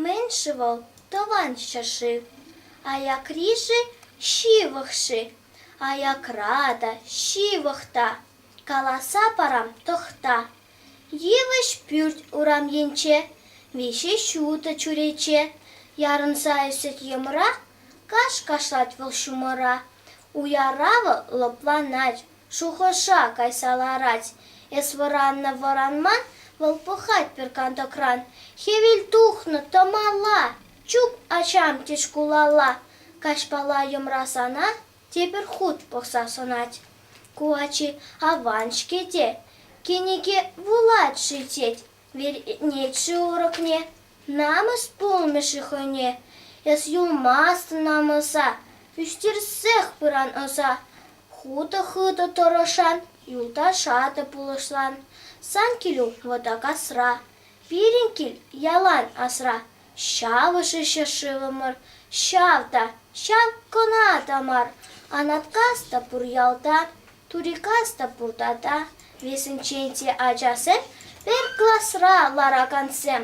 Мӗн-ши вӑл тӑван ҫӗршыв? Аякри-ши, ҫывӑх-ши? Аякра та, ҫывӑх та. Каласа парам, тӑхта. Йывӑҫ пӳрт урам енче, виҫӗ ҫутӑ чӳрече. Ярӑнса ӳсет йӑмра Каҫ кашлать вӑл ҫумӑра, Уяравӗ лӑпланать, Шухӑша кайса ларать. Эс вӑраннӑ вӑранман, Вӑл пӑхать пӗр кантӑкран. Хӗвел тухнӑ тӑмала, Чуп ачам тет шкулалла. Каҫпала йӑмрасана Тепӗр хут пӑхса сӑнать. Ку ачи аван-ҫке те, Кӗнеке вулать-ши тет, Вӗрентнӗччӗ урокне, намӑс пулмӗ-ши хӑйне эс юлмастӑн намӑса, ӳстерсех пыран ӑса. Хутӑ-хытӑ тӑрӑшан, юлташа та пулӑшлан. Сан килӳ вӑта касра, пирӗн кил ялан асра. Ҫавӑшӗ ҫӗршывӑмӑр, ҫав та, ҫав кӑна та мар, Анаткас та пур ялта. Турикас та пур тата, вӗсенчен те ачасем, пӗр класра ларакансем.